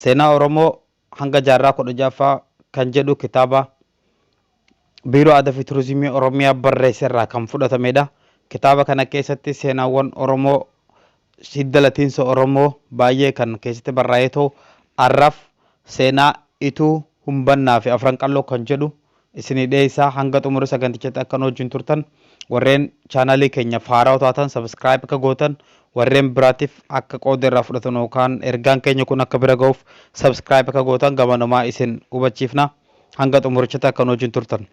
Seenaa Oromoo hanga jaarraa 16ffaa kan jedhu kitaaba Biiroo Aadaafi Turizimii Oromiyaa barreesserraa kan fudhatamedha. Kitaaba kana keessatti seenaawwan Oromoo, hidda latiinsa Oromoo baay'ee kan keessatti barraa'ee ta'u, har'aaf seenaa Ituu, Humbannaafi Afran Qalloo kan jedhu isinii dhiyeessa. Hanga xumura sagantichatti akka nu wajjin turtan, warreen chaanaalii keenyaaf haarawa taatan subscribe akka gootan, warreen biraatiif akka qooda irraa fudhatan yookaan ergaan keenya kun akka bira ga'uuf subscribe akka gootan gamanumaa isin hubachiifna. Hanga xumurichatti akka nu wajjin turtan.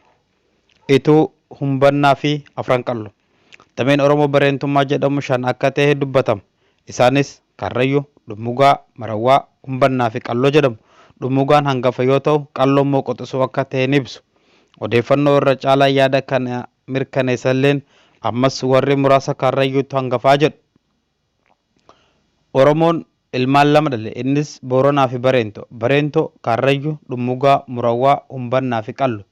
Ituu, Humbannaa fi Afran Qalloo. Dameen Oromoo Bareentummaa jedhamu shan akka tahe dubbatama. Isaanis, Karrayyuu, Dhummugaa, Marawwaa, Umbannaa fi Qalloo jedhamu. Dhummugaan hangafa yoo tahu, Qalloon immoo quxusuu akka tahe ni ibsu. Odeeffannoo irra caalaan yaada kana mirkaneessan illeen, ammas warri muraasa Karrayyuutu hangafaa jedhu. Oromoon ilmaan lama dhale. Innis, Booranaa fi Bareentoo. Bareentoo, Karrayyuu, Dhummugaa, Murawwaa, Umbannaa fi Qallo.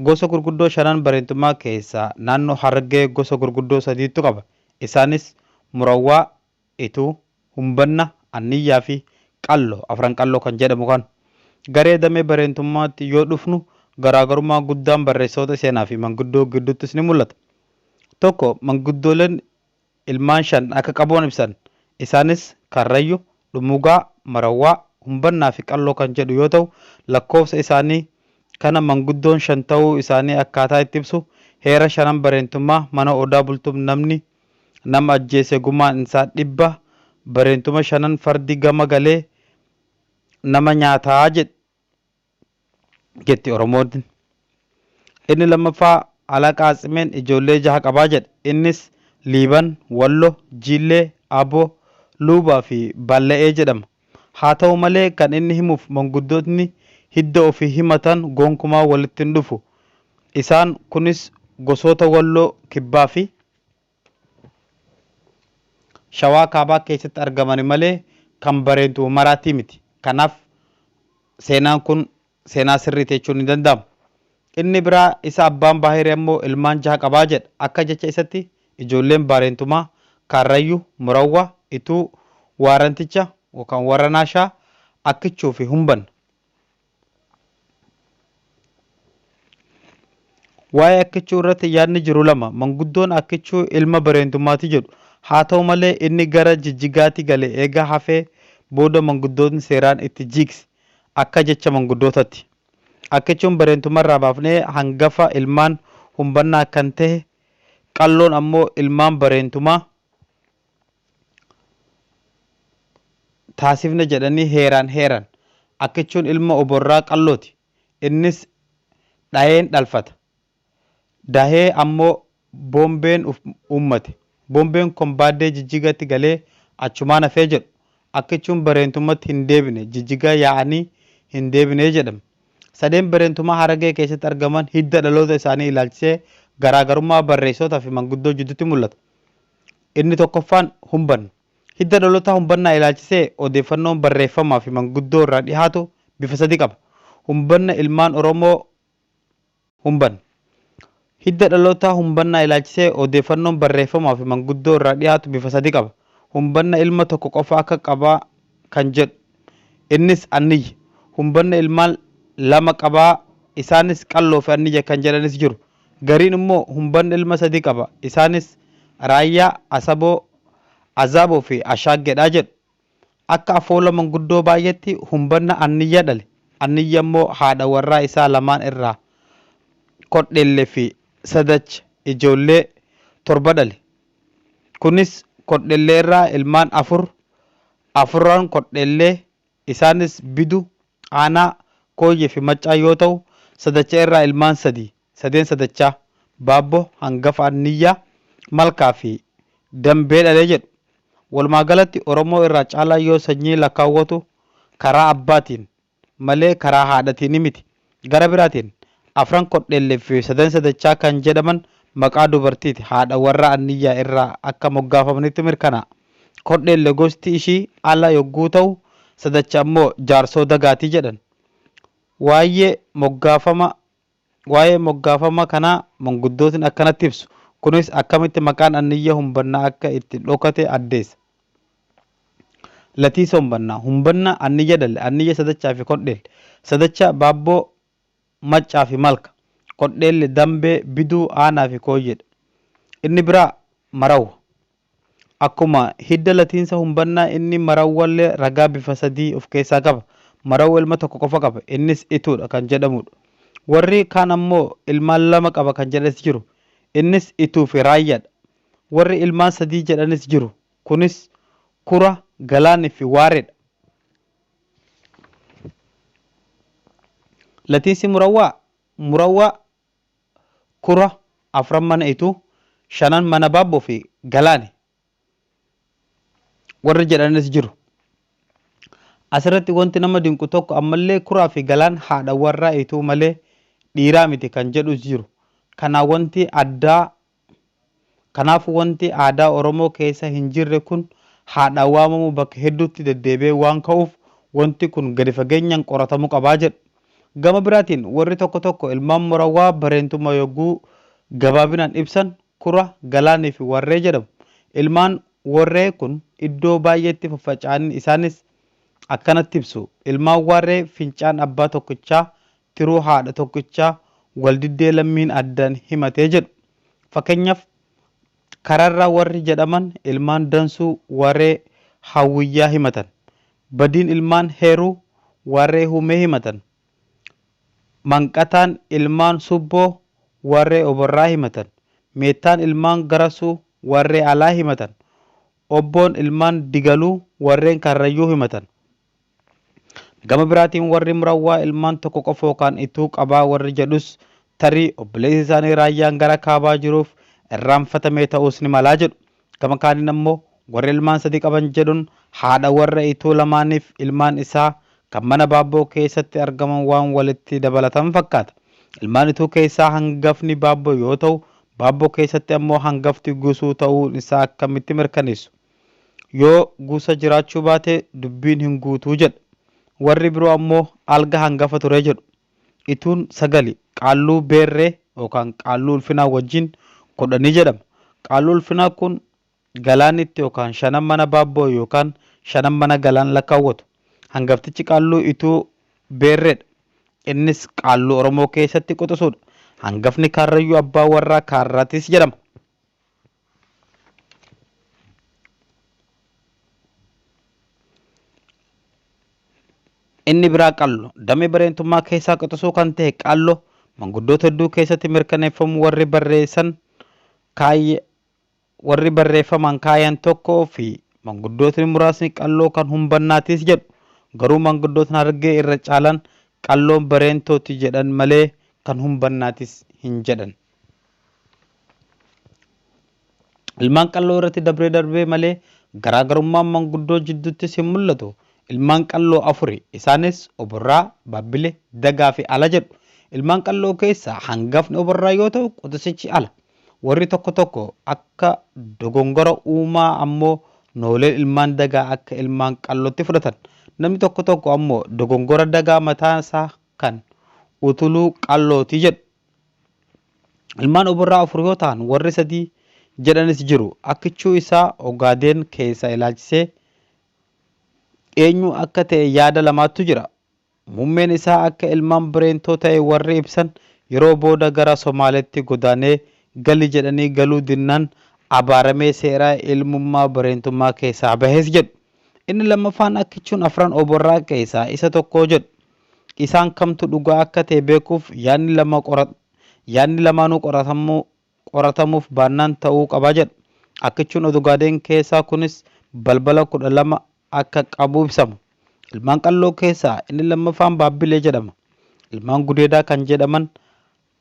Gosa gurguddoo shanan Bareentummaa keessaa naannoo Harargee gosa gurguddoo sadiitu qaba. Isaanis, Murawwaa, Ituu, Humbanna, Anniyyaa fi Qallo, Afran Qalloo kan jedhamu kan. Garee damee Bareentummaatti yoo dhufnu garaagarummaan guddaan barreessitoota seenaa fi manguddoo gidduuttis ni mul'ata. Tokko, manguddooleen ilmaan shan akka qabuan ibsan. Isaanis Karrayyu, Dhumugaa, Marawwaa, Humbannaa fi Qalloo kan jedhu yoo ta'u lakkoofsa isaanii kana manguddoon shan ta'uu isaanii akkaataa itti ibsu heera shanan bareentummaa mana Odaa Bultum namni nama ajjeese gumaan isaa dhibba bareentuma shanan fardi gama galee nama nyaataa jedh. jetti Oromoodn. Inni lammaffaa Alaa Qaatsimeen ijoollee jaha qabaa jedha. Innis Liiban, Wallo, Jiillee, Abo, Luuba fi Balla'ee jedhama. Haa ta'u malee kan inni himuuf manguddootni hidda ofii himatan gonkumaa walitti hin dhufu. Isaan kunis gosoota Walloo Kibbaa fi. Shawaa Kaabaa keessatti argamani malee kan Bareentu Humaraattii miti. Kanaaf seenaan kun seenaa sirriiti jechuun hin danda'amu. Inni biraa isa Abbaan Baahiri ammoo ilmaan jaha qaba jedha. Akka jecha isatti ijoolleen Baareentumaa, Kaarrayyu, Murawwa, Ituu, Waaranticha, yookaan Warranaa Shaa, Akkichuu fi Humban. Waa'ee Akkichuu irratti yaadni jiru lama. Manguddoon Akkichuu ilma Bireentummaati jedhu. Haa ta'u malee inni gara Jijjigaatti gale eega hafee booda manguddootni seeraan itti jiigse. Akka jecha manguddootatti. Akkichuun Bireentumma irraa baafnee hangafa ilmaan Humbannaa kan tahe, Qalloon ammoo ilmaan Bareentumaa. taasifna jedhanii heeraan heeran. Akkichuun ilma oborraa qallooti. Innis dhayeen dhalfata. Dahee ammoo bombeen uummate. Bombeen kon baaddee Jijjigatti galee achumaan hafee jedhu. Akkichuun Bareentummatti hin deebine Jijjigaa yaa'anii hin deebine jedhame. Sadeen Bareentumaa Haragee keessatti argaman hidda dhaloota isaanii ilaalchisee garaagarummaa barreessootaa fi manguddoo jidduutti mul'ata. Inni tokkoffaan humbanno. Hidda dhalotaa humbannaa ilaalchisee odeeffannoon barreeffamaa fi manguddoo irraa dhihaatu bifa sadi qaba. Humbanna ilmaan Oromoo Humbanno. Hidda dhalotaa humbannaa ilaalchisee odeeffannoon barreeffamaa fi manguddoo irraa dhihaatu bifa sadi qaba. Humbanna ilma tokko qofa akka qaba kan jedhu. Innis Anniyya. Humbanna ilmaan lama qaba. Isaanis Qalloo fi Anniyya kan jedhanis jiru. Gariin immoo humban ilma sadii qaba. Isaanis Raayyaa, Asaboo, Azaaboo fi Ashaaggedha jedhu. Akka afoola manguddoo baay'eetti humbanna Anniyya dhale. Anniyya immoo haadha warraa isaa lamaan irraa Kodhelle fi Sadach ijoollee torba dhale. Kunis Kodhelle irraa ilmaan afur, afurran Kodhelle, Isaanis Bidu, Aanaa, Kooyyee fi Maccaa yoo ta'u, Sadacha irraa ilmaan sadi, Sadeen Sadachaa, Baabbo, Hangafa Anniyyaa, Malkaa fi Dambee dhale jedhu. Walumaa galatti Oromoo irraa caalaa yoo sanyii lakkaawwatu karaa abbaatiin malee karaa haadhatiini miti. Gara biraatiin, Afran Kodhellef fi Sadansa Dachaa kan jedhaman maqaa dubartiiti, haadha warraa Anniyyaa irraa akka moggaafamanitti mirkanaa'a. Kodhelle gosti ishii Ala yogguu ta'u, Sadacha ammoo jaarsoo Dagaati jedhan. Waayye moggaafama Waayee moggaafama kanaa manguddootni akkanatti ibsu. Kunis akkamitti maqaan Anniyya humbanna akka itti dhokate addeessa. Latiisa Humbannaa, Humbanna, Anniyya Dalle, Anniyya Sadachaa fi Kodheelle, Sadacha, Baabboo, Maccaa fi Malka, Kodheelle, Dambee, Biduu, Aanaa fi Kooyyee dha. Inni biraa Marawwa. Akkuma hidda latiinsa Humbannaa inni Marawwa illee ragaa bifa sadii of keessaa qaba. Marawwa ilma tokko qofa qaba. Innis Ituu dha kan jedhamuu dha. Warri kaan ammoo ilmaan lama qaba kan jedhanis jiru. Innis Ituu fi Raayyaa dha. Warri ilmaan sadii jedhanis jiru. Kunis Kura, Galaan fi Waareedha. Latiinsi Murawwaa, Murawwaa, Kura, afran mana Ituu, shanan mana Baabboo fi Galaani warri jedhanis jiru. Asirratti wanti nama dinqu tokko ammallee Kuraa fi Galaan haadha warraa Ituu malee dhiiraa miti kan jedhus jiru. Kanaa wanti addaa Kanaafuu wanti aadaa Oromoo keessa hinjirre kun haadhaan waamamu bakka hedduutti deddeebi'ee waan ka'uuf wanti kun gadi fageenyaan qoratamuu qaba jedhu. Gama biraatiin warri tokko tokko ilmaan Morawwaa bareentummaa yogguu gabaabinaan ibsan Kura, Galaaniifi Warree jedhamu. Ilmaan Warree kun iddoo baay'eetti faffaca'anii isaanis akkanatti ibsu, Ilmaan Waarree fincaan abbaa tokkichaa tiruu haadha tokkichaa waldiddee lammiin addan himatee jedhu. Fakenyaf Kararraa warri jedhaman ilmaan Dansuu waree Hawwiyyaa himatan. Badiin ilmaan Heruu waree Humee himatan. Manqataan ilmaan Subboo waree Oborraa himatan. Meettaan ilmaan Garasuu waree Alaa himatan. Obboon ilmaan Digaluu warreen Karrayyuu himatan. Gama biraatiin warri Murawwaa ilmaan tokko qofa yookaan ituu qabaa warri jedhus tarii obboleessi isaanii Raayyaan gara kaabaa jiruuf irraanfatamee ta'uus ni malaa jedhu. Gama kaaniin ammoo warri ilmaan sadii qaban jedhun haadha warra Ituu lamaaniif ilmaan isaa kan mana Baabboo keessatti argaman waan walitti dabalatan fakkaata. Ilmaan Ituu keessaa hangafni Baabboo yoo ta'u, Baabboo keessatti ammoo hangafti Gusuu ta'uun isaa akkamitti mirkaneessu? Yoo guusa jiraachuu baate dubbiin hin guutu jedha. Warri biroo ammoo alga hangafa ture jedhu. Ituun sagali, qaalluu beerree yookaan qaalluu ulfinaa wajjin kudhani jedhama. Qaalluu ulfinaa kun galaanitti yookaan shanan mana baabboo yookaan shanan mana galaan lakkaawwatu. Hangaftichi qaalluu ituu beerreedha. Innis qaalluu Oromoo keessatti quxusuudha. Hangafni kaarrayyuu abbaa warraa kaarraatis jedhama. Inni biraa qallo damee bareentummaa keessaa quxusuu kan ta'e qallo manguddoota hedduu keessatti mirkaneeffamu warri barreessan kaayya warri barreeffamaan kaayan tokko fi manguddootni muraasni qalloo kan humbannaatiis jedhu garuu manguddootni harargee irra caalan qalloon bareentooti jedhan malee kan humbannaatis hin jedhan. Ilmaan qalloo irratti dabree darbee malee garaagarummaan manguddoo jidduuttis hin mul'atu. Ilmaan qalloo afuri. Isaanis Oborraa, Baabbile, Dagaa fi Ala jedhu. Ilmaan qalloo keessaa hangafni Oborraa yoo ta'u quxisichi Ala. Warri tokko tokko akka dogongora uumaa ammoo noolee ilmaan Dagaa akka ilmaan qallootti fudhatan. Namni tokko tokko ammoo dogongora Dagaa mataa isaa kan utuluu qallooti jedhu. Ilmaan oborraa afur yoo tahan warri sadii jedhanis jiru. Akkichuu isaa Ogaadeen keessaa ilaalchisee eenyu akka ta'e yaada lamaattu jira. Mummeen isaa akka ilmaan Bireentoo ta'e warri ibsan yeroo booda gara Somaaleetti godaanee gali jedhanii galuu dinnaan abaaramee seera ilmummaa Bireentummaa keessaa bahes jedhu. Inni lammaffaan Akkichuun afran oborraa keessaa isa tokko jedhu. Isaan kamtu dhugaa akka ta'e beekuuf yaadni lama qoratama. Yaadni lamaanuu qoratamuu qoratamuuf baannaan ta'uu qaba jedhu. Akkichuun Odugaadeen keessaa kunis balbala 12 akka qabu ibsama. Ilmaan Qalloo keessaa inni lammaffaan Baabbilee jedhama. Ilmaan Gudeedaa kan jedhaman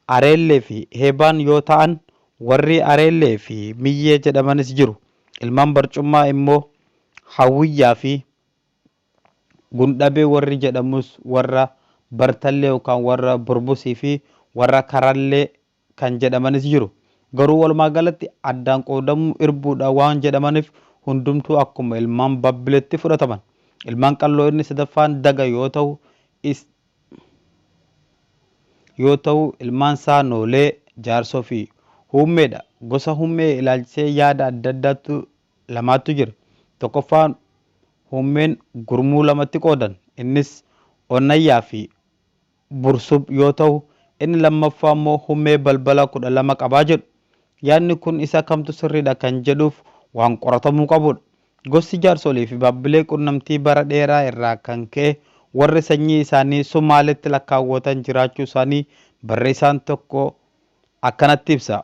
Areellee fi Heebaan yoo ta'an warri Areellee fi Miyyee jedhamanis jiru. Ilmaan Barcummaa immoo Hawwiyyaa fi Gundhabee warri jedhamus warra Bartallee yookaan warra Burbusii fi warra Karallee kan jedhamanis jiru. Garuu walumaa galatti addaan qoodamuu irbuu dha waan jedhamaniif hundumtuu akkuma ilmaan Babbiletti fudhataman. Ilmaan Qalloo inni sadaffaan Daga yoo tahu is yoo tahu ilmaan isaa Noolee, Jaarsoo fi Huummee dha. Gosa Hummee ilaalchisee yaada adda addaatu lamaattu jira. Tokkoffaan huummeen gurmuu lamatti qoodan. Innis Onnayyaa fi Bursub yoo tahu, inni lammaffaa immoo hummee balbala kudha lama qaba jedhu. Yaadni kun isa kamtu sirriidha kan jedhuuf waan qoratamuu qabuudha. Gosti Jaarsolii fi Baabbilee qunnamtii bara dheeraa irraa kan ka'e warri sanyii isaanii Sumaaleetti lakkaawwatan jiraachuu isaanii barreessaan tokko akkanatti ibsa.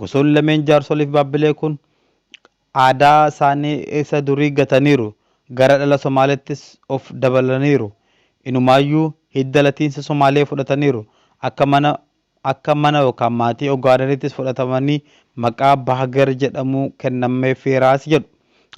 Gosoonni lameen jaarsoliif baabbilee kun aadaa isaanii isa durii gataniiru, gara dhala Somaaleettis of dabalaniiru. Inumaayyuu hidda latiinsa Somaalee fudhataniiru. Akka mana akka mana yookaan maatii Ogaadeniittis fudhatamanii maqaa Bahger jedhamuu kennameefiiraas jedhu.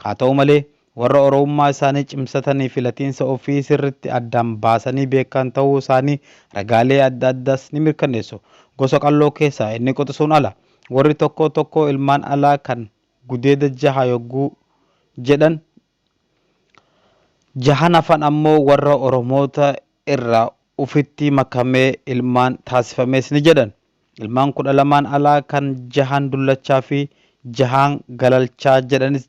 Haa ta'u malee Warra Oromummaa isaanii cimsatanii fi latiinsa ofii sirritti addaan baasanii beekan ta'uu isaanii ragaalee adda addaas ni mirkanneessu. Gosa Qalloo keessaa inni quxisuun ala. Warri tokkoo tokkoo ilmaan alaa kan gudeeda jaha yogguu jedhan, jahan hafan ammoo warra Oromoota irraa ufitti makamee ilmaan taasifamees ni jedhan. Ilmaan kudha lamaan alaa kan jahan dullachaa fi jahaan galalchaa jedhanis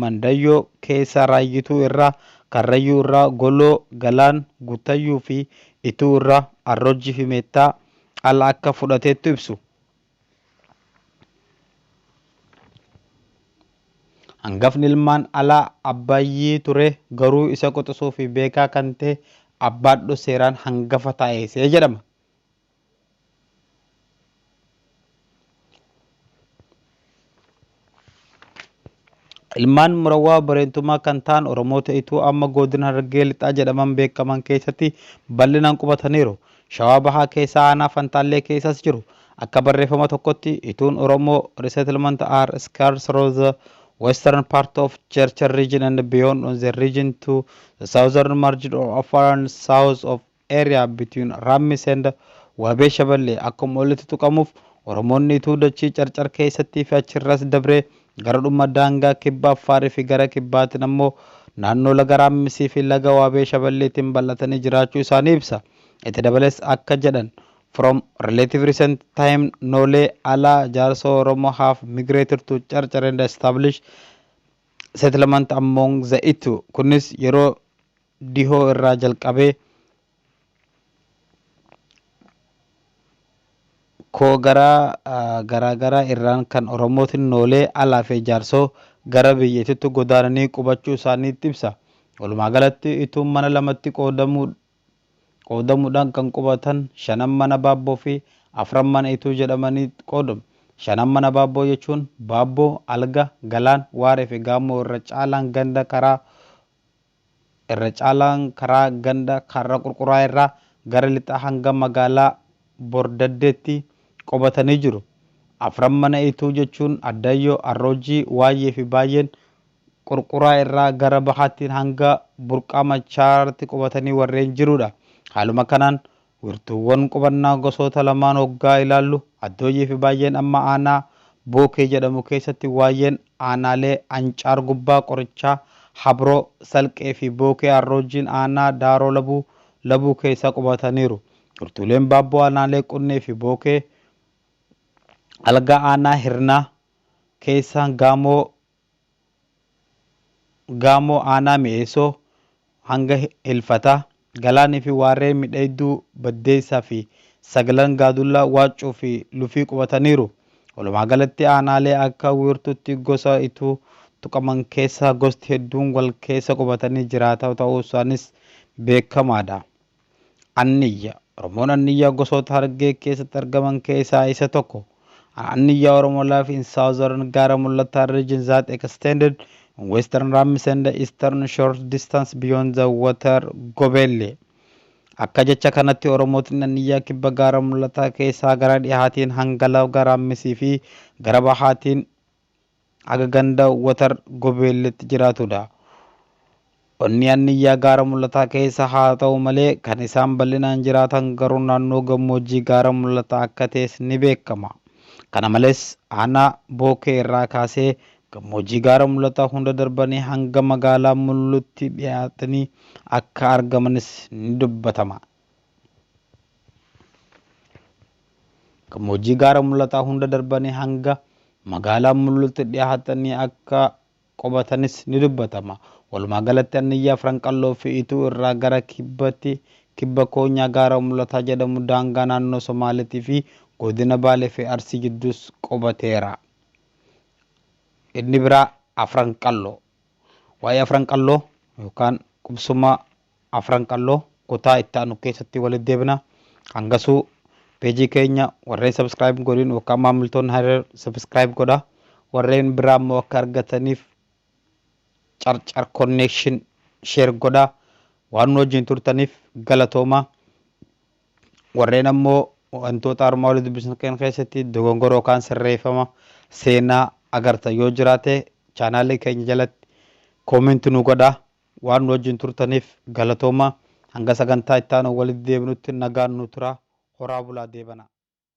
Mandayyoo keessaa Raayyituu irraa, Karrayyuu irraa Goloo, Galaan, Guttayyuu fi Ituu irraa Arrojji fi Meettaa ala akka fudhateettu ibsu. Hangafni ilmaan alaa Abbayyii ture garuu isa quxisuu fi beekaa kan ta'e Abbaadhu seeraan hangafa taa'eese jedhama. Ilmaan Murawwaa Bareentumaa kan ta'an Oromoota Ituu amma Goodina Harargee Lixaa jedhaman beekaman keessatti bal'inaan qubataniiru. Shawaa Bahaa keessaa Aanaa Fantaallee keessaas jiru. Akka barreeffama tokkotti Ituun Oromoo resettlement are scarce through the western part of Chercher region and beyond on the region to the southern margin of Afar and south of area between Rammis and Waabee Shaballee akkuma olitti tuqamuuf Oromoonni Ituu dachii Carcar keessattii fi achirras dabree gara dhuma daangaa kibba Affaarii fi gara kibbaatiin ammoo naannoo laga Raammisii fi laga Waabee Shaballeetiin bal'atanii jiraachuu isaanii ibsa. Itti dabalees akka jedhan From relative recent time Noolee, Alaa, Jaarsoo Oromoo have migrated to Carcar and established settlement among the Ituu. Kunis yeroo dhihoo irraa jalqabee koo garaa garaagaraa irraan kan Oromootni noolee alaa fi jaarsoo gara biyyattiitti godaananii qubachuu isaaniitti ibsa. Walumaa galatti Ituun mana lamatti qoodamuudhaan kan qubatan shanan mana Baabboo fi afran mana Ituu jedhamanii qoodamu. Shanan mana Baabboo jechuun Baabboo, Alga, Galaan, Waaree fi Gaammoo irra caalaan ganda karaa Irra caalaan karaa ganda Kaarra Qurquraa irraa gara lixaa hanga magaalaa Bordaddeetti qubatanii jiru. Afran Mana Ituu jechuun Addaayyoo, Arroojii, Waayyee fi Baayyeen Qurquraa irraa gara bahaattiin hanga Burqaa Machaarratti qubatanii warreen jiruudha. Haaluma kanaan Wirtuuwwan qubannaa gosoota lamaan oggaa ilaallu Addooyiifi Baayyeen amma aanaa Bookee jedhamu keessatti Waayyeen aanaalee Ancaar Gubbaa, Qorichaa, Habroo, Salqeefi Bookee Arroojjiin aanaa Daaroo Labuu, Labuu keessa qubataniiru. Wirtuuleen Baabboo aanaalee Qunneefi Bookee, Algaa aanaa Hirnaa keessa, Gaamoo Gaamoo Aanaa Mi'eessoo hanga Ilfataa, Galaanii fi Waarree Midhayidduu Baddeessaa fi Saglan Gaadullaa, Waaccuu fi Lufii qubataniiru. Walumaa galatti aanaalee akka Wiirtuutti gosa Ituu tuqaman keessaa gosti hedduun wal keessa qubatanii jiraataa ta'uusaaniis beekamaadha. Anniyya, Oromoon Anniyyaa gosoota Harargee keessatti argaman keessaa isa tokko. Anniyyaa Oromo live in southern Gaara Mul'ataa region that extended in western Rammis and eastern short distance beyond the water Gobeelle. Akka jecha kanatti Oromootni Anniyyaa kibba Gaara Mul'ataa keessaa gara dhihaatiin hanga laga Raammisii fi gara bahaatiin Aga ganda Watar Gobeelleetti jiraatudha. Onni Anniyyaa Gaara Mul'ataa keessa haa ta'u malee kan isaan bal'inaan jiraatan garuu naannoo gammoojjii Gaara Mul'ataa akka ta'es ni beekama. Kana malees aanaa Bookee irraa kaasee gammoojjii Gaara Mul'ataa hunda darbanii hanga magaalaa Mulluutti dhiyaatanii akka argamanis ni dubbatama. Gammoojjii gaara mul'ataa hunda darbanii hanga magaalaa Mulluutti dhihaatanii akka qubatanis ni dubbatama. Walumaa galatti Anniyyaa, Firanqalloo fi Ituu irraa gara kibbatti kibba koonyaa gaara mul'ataa jedhamu daangaa naannoo Somaaleetii fi godina Baalee fi Arsii jidduus qubateera. Inni biraa Afranqalloo. Waa'ee Afranqalloo yookaan qubsuma Afran Qalloo kutaa itti aanu keessatti walitti deebina. Hangasuu Page keenya warreen subscribe hin godhin yookaan maamiltoonni haarar subscribe godha. Warreen biraa immoo akka argataniif carcar connection share godha. Waan nu wajjin turtaniif galatooma. Warreen ammoo wantoota armaa olii dubbisnu keenya keessatti dogongora yookaan sirreeffama seenaa agartan yoo jiraate chaanaalii keenya jalatti comment nu godha. Waan nu wajjin turtaniif galatoomaa. Hanga sagantaa itti aanuun walitti deebinutti nagaan nu turaa. Horaa bulaa deebanaa.